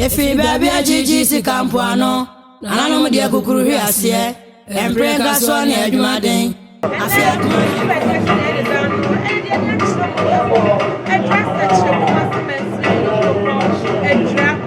Yɛfiri baabi agyegye sika mpoano, nananom deɛ kukuru hwe aseɛ, ɛmpere nka soɔ ne adwumaden, afe adwuma. Thank you.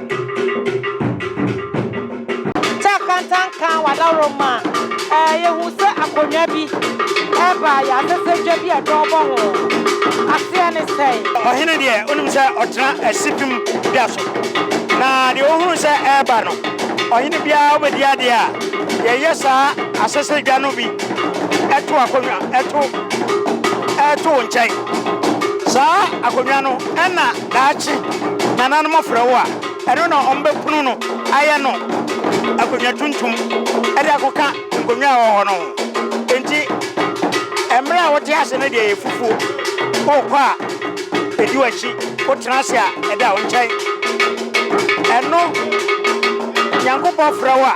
Taa kantan kaa w'adaworoma a, yɛhu sɛ akonnwa bi reba a yɛasesa dwa bi a dɔw bɔ ho. Aseɛ ne sɛn? Ɔhene deɛ, wonim sɛ ɔtena asipem dwa so, na deɛ ɔhunu sɛ ɛreba no, ɔhene biara wobɛdi adeɛ a, yɛyɛ saa asesa dwa no bi to akonnwa to to wo nkyɛn. Saa akonnwa no, ɛna. Daakye nananom afrɛ wo a, ɛno na wɔbɛpono no ayɛ no akonnwa tuntum de akɔka nkonnwa a ɛwɔ hɔ no ho. Enti, mmerɛ a wote ase no deɛ yɛ fufuo. Wokɔ a, ɛdi w'akyi. Wotena ase a, ɛda wo nkyɛn. Ɛno Nyankopɔn frɛ wo a,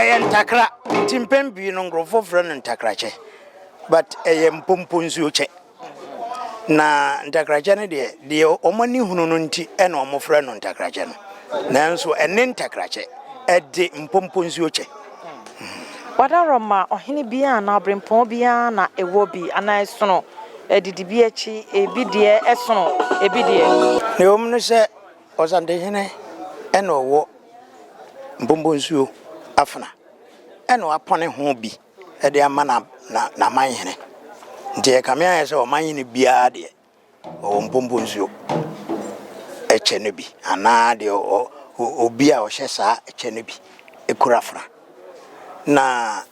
Ɛyɛ ntakra nti mpɛn pii no nkurɔfoɔ frɛ no ntakrakyɛ but ɛyɛ mpompo nsuo kyɛ na ntakrakyɛ no deɛ deɛ wɔn ani hunu no nti ɛna wɔn frɛ no ntakrakyɛ no nanso ɛne ntakrakyɛ ɛde mpompo nsuo kyɛ. Wadaworo ma ɔhene biara anaa ɔberempɔn biara na ɛwɔ bi anaa ɛsono adidi bi akyi ebi deɛ ɛsono ebi deɛ. Nea ɛwɔ mu ne sɛ Ɔsantehene na ɔwɔ Mpombonsuo afena na wapɔne ho bi de ama n'amanhene. Nti ɛkame ayɛ sɛ ɔmanhene biara deɛ ɔwɔ Mpombonsuo kyɛ no bi anaa deɛ obi a ɔhyɛ saa kyɛ no bi kura afena. Na.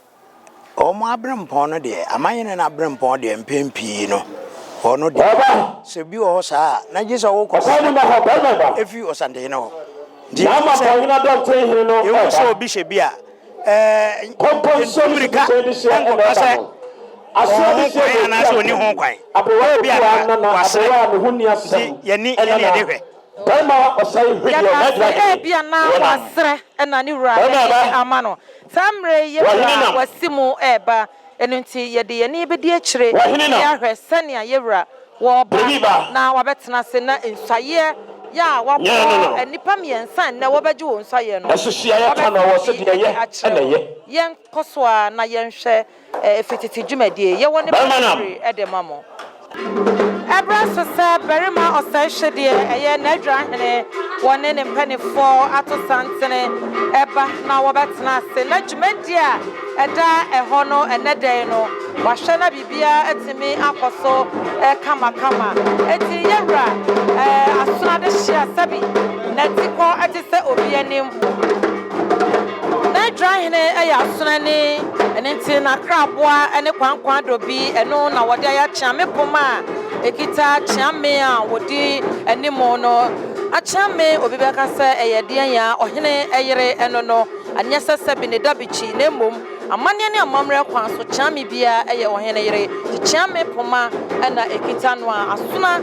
Wɔn aberempɔn no deɛ, amanyɛne no aberempɔn deɛ, mpɛn pii no, ɔno deɛ, sɛ obi wɔ hɔ saa a, na gye sɛ wɔkɔsi no fi ɔsantehene hɔ. Nti ɛfiri sɛ, yɛhu sɛ obi hyɛ bi a, ɛntu mmirika nkɔka sɛ ɔwɔ ho kwan anaasɛ ɔnni ho kwan. Ebia na wasere. Nti yɛn ani yɛn de hwɛ. Yɛka sɛ ebia na wasrɛ na ne wura de ne nne ama no. Saa mmerɛ yi yɛn wura a wasi mu reba, ɛno nti yɛde yɛn ani bɛdi akyire de ahwɛ sɛnea yɛn wura ɔreba na wabɛtena ase na nsuaeɛ yɛ a wabɔ nnipa mmiɛnsa nnɛ wɔbɛgye wɔn nsuaeɛ no, wabɛte yɛn akyerɛ wɔn. Yɛnkɔ so ara na yɛnhwɛ. Efi tete dwumadie. Yɛwɔ ne bere bebree de ma mo. Ɛberɛ so sɛ barima ɔsɛehye deɛ ɛyɛ n'adwira hene wɔne ne mpanimfoɔ ato santene ɛba na wɔbɛtena ase na dwumadie a ɛda ɛhɔ no ɛnnɛ da yi no wɔahwɛ na biribiara atumi akɔ so kamakama. Enti yɛwura Asono adehyeɛ a sɛbi n'atikɔ te sɛ obi anim. Na Israel hene yɛ asoɛne, ɛno nti na kraboa ne kwankwan dɔ bi, ɛno na wɔde ayɛ akyeame poma a ɛkita kyeame a wɔdi anim no. Akyeame, obi bɛka sɛ ɛyɛ deɛn a ɔhene yere no no, ɛnyɛ sɛ sɛbi na ɛda bikyi, na mmom amanneɛ ne amammerɛ kwan so kyeame biara yɛ ɔhene yere, nti kyeame poma na ɛkita no a, asoa.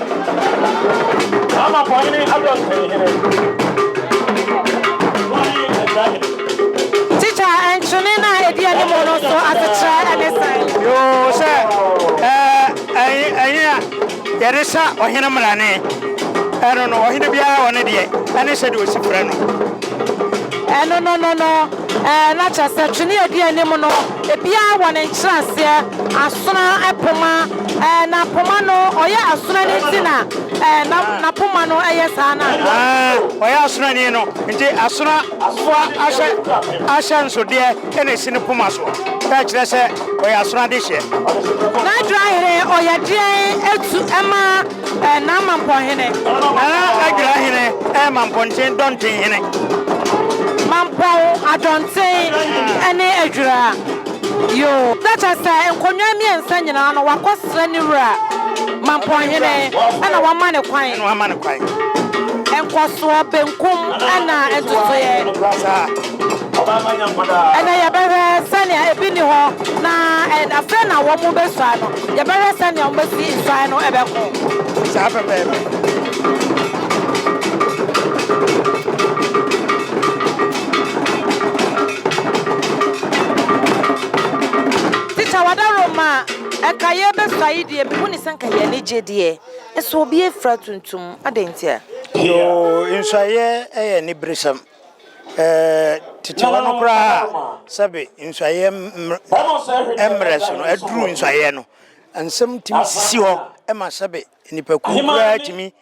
Ama pɔ hene adɔ nsɛn hene. Wani ɛsra hene. Teacher, nkyene no a ɛdi anim no nso asekyerɛ ne sɛn? Yoo, sɛ ɛnye a yɛde sa ɔhene mmrane, ɛno no, ɔhene biara wɔ ne deɛ, ɛne sɛdeɛ ɔsi frɛ no. Ɛno no no no, ɛɛ, na kyerɛ sɛ twene a ɛdi anim no, ebiara wɔ ne nkyerɛaseɛ, asono, poma. Ɛɛ na poma no ɔyɛ asorani nti na ɛɛ na na poma no ɛyɛ saa no anaa? Aa ɔyɛ asorani no nti asora foa ahyɛ ahyɛ nsodeɛ ɛna ɛsi ne poma so na ɛkyerɛ sɛ ɔyɛ asora dehyeɛ. N'adwera hene ɔyɛ deɛn ɛtu ɛma ɛɛ n'amampɔn hene? Nana Adwera hene ɛyɛ mampɔnten dɔnten hene. Mampɔn, adɔnten ɛne adwera. Yoo, na kyerɛ sɛ nkonnwa mmiɛnsa nyinaa no, wɔakɔsrɛ ne wura Mampɔnhene na wama no kwan. Nkɔsoɔ, benkum na ntotoeɛ. Ɛnnɛ yɛbɛhwɛ sɛnea ebi nni hɔ na afei na wɔbɛsua no. Yɛbɛhwɛ sɛnea wɔbɛsi nsuan no bɛko. Saa pɛpɛɛpɛ. Sister Wadaro ma ɛka yɛ bɛ sɔ ayi deɛ mehu ne sɛ nka yɛ ani gye deɛ nso obi afira tuntum adɛn ntia? Yoo nsuayɛ yɛ aniberesɛm titiwa no koraa sɛbe nsuayɛ mmrɛ so no aduru nsuayɛ no nsɛm tumi sisi hɔ ma sɛbe nnipakuo koraa tumi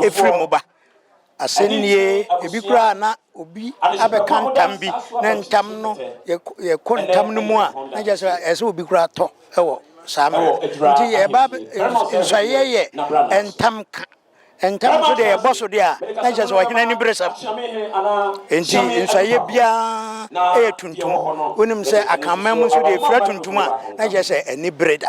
Efraim ba. Asɛm nie, ebi koraa a na obi abɛka ntam bi, na ntam no, yɛkɔ ntam no mu a, na kyerɛ sɛ ɛsɛ sɛ obi koraa tɔ wɔ saa mmerɛ no. Nti yɛba nsɔeɛ yɛ ntam ka. Ntam nso deɛ yɛbɔ so deɛ a, na kyerɛ sɛ ɔhene aniberesɛm. Nti nsɔeɛ biara yɛ tuntum. Wonim sɛ Akanman mu nso deɛ ɛfira tuntum a, na kyerɛ sɛ anibere da.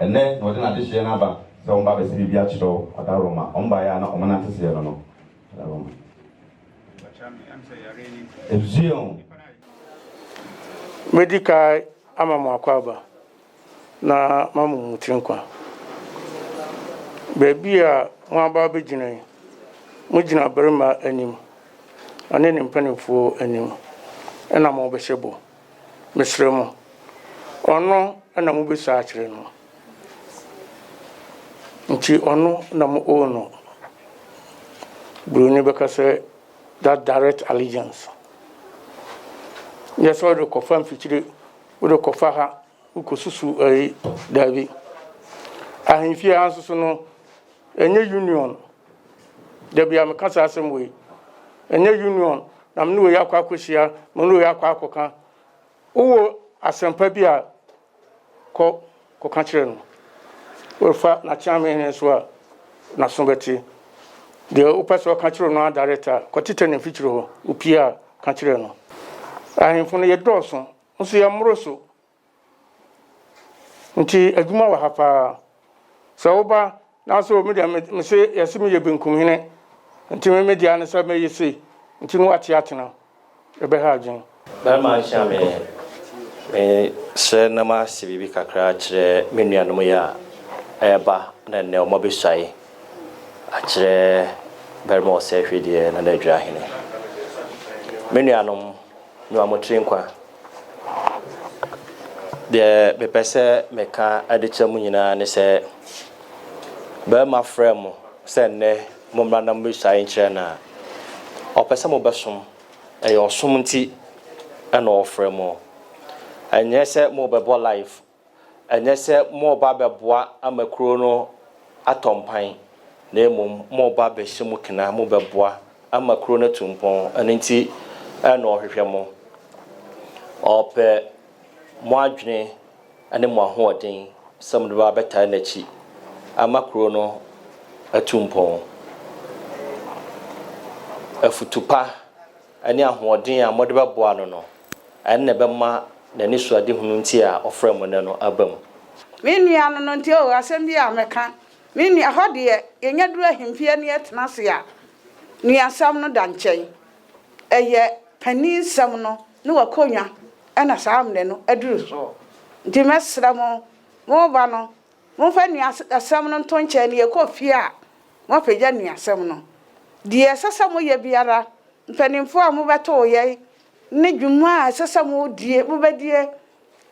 Ɛnnɛ na ɔde n'adehyeɛ no aba sɛ wɔmba abɛsɛ biribi akyerɛ wo. Ɔdawroma, wɔmbaeɛ a na wɔnante seɛ no no. Ɔdawroma. Ezueon. Mɛdi kae ama mo akwaaba na mamu mo tiri nkwa. Baabi a moaba abɛgyina yi, mogyina barima anim, ɔne ne mpanimfoɔ anim na morebɛhyɛ bɔ. Mesrɛ mo, ɔno na mobɛsua akyerɛ no, nti ɔno na mo owe no. Buroni bɛka sɛ, that direct allegiance. Nyɛ sɛ wode kɔfa mfikyire, wode kɔfa ha, wokɔsusu ɛyi, daabi. Ahemfie ha nso so no, Ɛnyɛ union. Dabi a meka saa asɛm wei. Ɛnyɛ union na me ne wei akɔ akɔhyia, me ne wei akɔ akɔka. Wowɔ asɛmpa bi a, kɔ kɔka kyerɛ no. Worefa n'akyeame hene nso a, n'aso bɛte. Deɛ wopɛ sɛ ɔka kyerɛ no ara direct a, kɔtetɛ ne mfikyiri hɔ. Wopie a, ka kyerɛ no. Ahemfo no, yɛdɔɔso, nso yɛmmoro so. Nti adwuma wɔ ha paa. Sɛ woba nanso me deɛ mese yɛse meyɛ benkum hene nti me me deɛ ne sɛ mɛyɛ sei nti no wate atena ɛbɛha adwen. Barima nhyia me me srɛ na ma se biribi kakra akyerɛ me nuanom yi a ɛɛba na ɛnnɛ ɔmɔ bɛ suae akyerɛ barima ɔsɛ hwɛ deɛ Nana Adwira hene. Me nuanom me ma mo tiri nkwa. Deɛ mepɛ sɛ meka de kyerɛ mo nyinaa ne sɛ, barima frɛ mo sɛ nnɛ mommra na mommɛsuae nkyerɛ no a, ɔpɛ sɛ mobɛsom. Ɛyɛ ɔsom nti na ɔfrɛ mo. Ɛnyɛ sɛ morebɛbɔ live Ɛnyɛ sɛ moreba abɛboa ama kurow no atɔ mpan, na mmom moreba abɛhyɛ mu kena, mobɛboa ama kurow no atu mpɔn. Ɛno nti na ɔhwehwɛ mo. Ɔpɛ mo adwene ne mo ahoɔden sɛ mode bɛba abɛtaa n'akyi ama kurow no atu mpɔn. Afotu pa. ne ahoɔden a mode bɛboa no no, ɛno na ɛbɛma n'anisoadehunu nti a ɔfrɛɛ mo nnɛ no aba mu. Me nua no no nti o, asɛm bi a mɛka, me nua, hɔ deɛ, yɛnya duru ahemfie ne yɛtena ase a, nuasɛm no da nkyɛn. Ɛyɛ paninsɛm no ne w'akonnwa na saa mmerɛ no aduru soɔ. Nti mɛsrɛ mo, mo ba no, Momfa nnuasɛm no nto nkyɛn na yɛkɔ fie a, moapagya nnuasɛm no. Deɛ ɛsɛ sɛ moyɛ biara, mpanimfoɔ a mobɛtoo yɛn ne dwuma a ɛsɛ sɛ modie, mobɛdie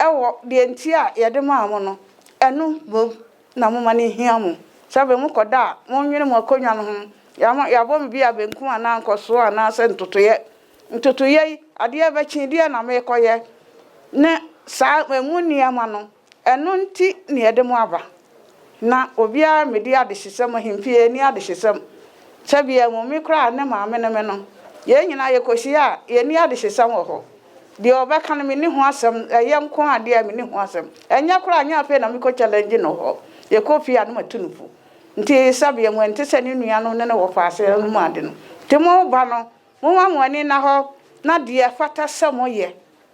wɔ deɛ nti a yɛde maa mo no, ɛno mmom na momma no nhia mo. Sɛbe mokɔda a, monnwene mo akonnwa no ho. Yɛabɔ me bia benkum anaa nkɔsoɔ anaasɛ ntotoeɛ. Ntotoeɛ yi, adeɛ rebɛkye, deɛn na merekɔyɛ? ne saa emu nneɛma no. Ɛno nti na yɛde mo aba. Ná obiara mmedi adehyesɛm, ahempie nni adehyesɛm. Tebea mu, me koraa, ne Maame ne me no, yɛn nyinaa yɛkɔsie a, yɛnni adehyesɛm wɔ hɔ. Deɛ ɔbɛka no, menni ho asɛm, ɛyɛ nko ara deɛ a, menni ho asɛm. Ɛnyɛ koraa, ɛnyɛ afei na mekɔ challenge no hɔ. Yɛkɔ fie a, na matu no fo. Nti Tebea mu, ɛnte sɛ ne nuanom ne no wɔ paase no mu ade no. Nti mo ba no, momma mo ani nna hɔ na deɛ ɛfata sɛ moyɛ.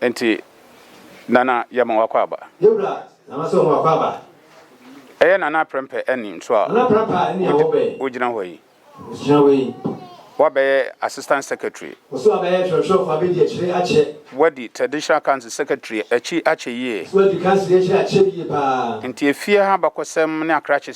Enti Nana yɛma wakɔ aba. Yɛ wura Nana sɛ ɔma wakɔ aba. Ɛyɛ Nana aprɛmpɛ ɛne nso a Nana prɛmpɛ a ɛne a wɔbɛ. Wogyina hɔ yi. Wogyina hɔ yi. Wabɛyɛ Assistant Secretary. Ɔsɛ wabɛyɛ twerɛtwerɛfoɔ abɛdi akyire akyɛ. Wadi Traditional Council Secretary akyi akyɛ yie. Ɔsɛ wadi Council yi akyire akyɛ yie paa. Enti efie ha abakɔsɛm ne akrakye.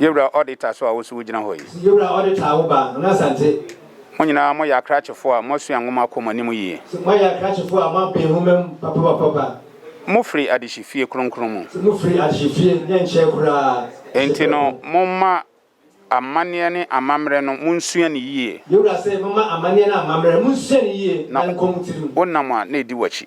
Yewura Ɔdeta so a wo so wo gyina hɔ yi. Yewura Ɔdeta a wo ba Hon Asante. Mo nyinaa mo yɛ akrakyefo a mo asua nwoma kɔ mo anim yie. Mo ayɛ akrakyefo a mo aben nwoma mu papapapapa. Mo firi adehye fie kronkron mu. Mo firi adehye fie ne nkyɛn koraa. Enti no mo mma amaneɛ ne amamerɛ no mo nsua no yie. Yewura se mo mma amaneɛ ne amamerɛ mo nsua no yie na nkɔ mo tirim. Na wo nam a na edi wo akyi.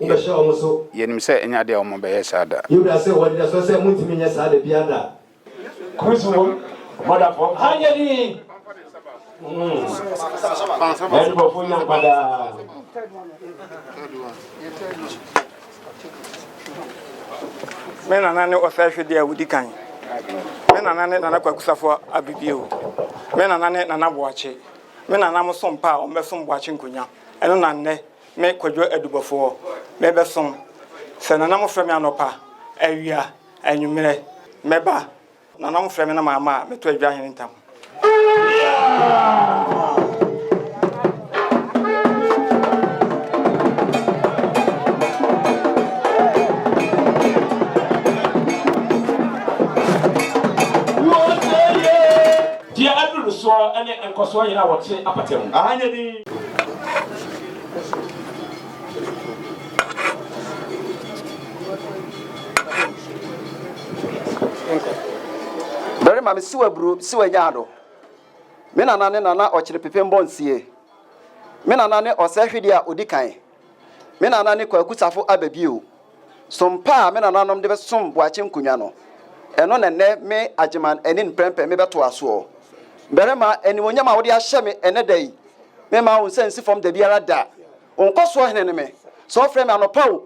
Wobɛhyɛ wɔn so. Yɛnim sɛ ɛnyɛ adeɛ a wɔbɛyɛ saa da. Yuda se, Wɔde asoɔ sɛ morentumi nyɛ saa da biara da. Kus wom, Mɔdafoɔ ha nyɛ den. N'adebɔfoɔ nya nkwa daa. Me nana ne ɔsɛehwedeɛ a ɔdi kan. Me nana ne Nana Kwaku Safo Abibio. Me nana ne Nana Boakye. Me nananom som pa a wɔbɛsom Boakye Nkonya. Ɛno na nnɛ Me Kwadwo Adubɔfoɔ mebɛsom. Sɛ Nana mofrɛ me anɔpa, awia, anwummerɛ, mɛba. Nana mofrɛ me na mamma a, mɛto Adwa Hene ntam. Deɛ aduru no soɔ ne nkɔsoɔ yɛn a wɔte apata mu. Aha nyɛ dinn. Barima, mese wo aburo, mese wo anyaado. Me nana ne Nana Ɔkyere Pepem Bɔnsie. Me nana ne ɔsɛe hwedeɛ a ɔdi kan. Me nana ne Kwaku Safo aba bio. Som pa a me nananom de bɛsom Boakye nkonnwa no, ɛno na nnɛ me Agyeman Anin Prɛmpɛ mebɛtoa soɔ. Barima, animuonyam a wode ahyɛ me ɛnnɛ da yi, memma wo nsa nsi fam dabiara da. Wo nkɔsoɔ hene ne me, sɛ wɔfrɛ me anɔpa o,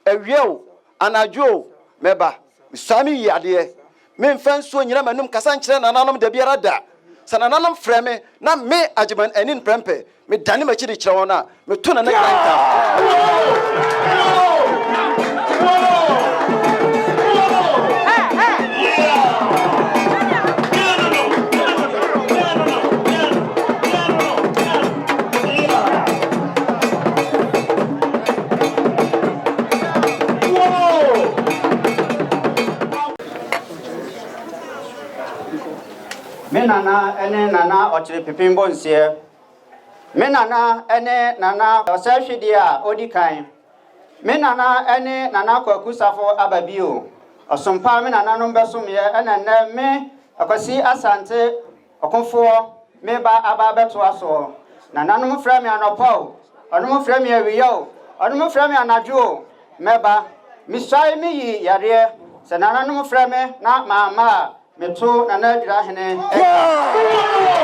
Awia o, anadwo o, mɛba. Mesuaa me yie adeɛ. Memfa nsuo nyina m'anom kasa nkyerɛ nananom dabiara da. Sɛ nananom frɛ me na me Agyeman Anin Prɛmpɛ, medane m'akyi de kyerɛ wɔn a, meto Nana Giant dance. Me nana ne nana ɔkyere pepem bɔ nseɛ. Me nana ne nana ɔsɛ hwedeɛ a ɔdi kan. Me nana ne nana kwaku safo aba bio. Ɔsompa me nananom bɛsomyɛ ɛna nnɛ me akwasi asante Ɔkofoɔ, meba aba abɛtoa soɔ. Nananom frɛ me anɔpa o, ɔnom frɛ me awia o, ɔnom frɛ me anadwo o, mɛba. Mesuae me yi yareɛ, sɛ nananom frɛ me na mamma a, meto Nana Adwirahene dwa.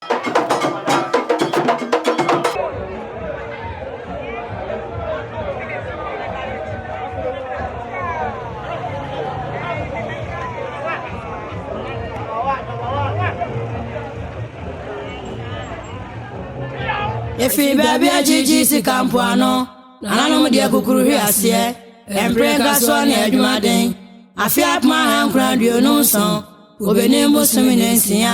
Efi baabi agyegye sika mpoano, nananom deɛ kukuru hwe aseɛ. Ɛmpere nka soɔ ne adwumaden, afe apem ahankron aduonu nson, obenim bosome ne nsia.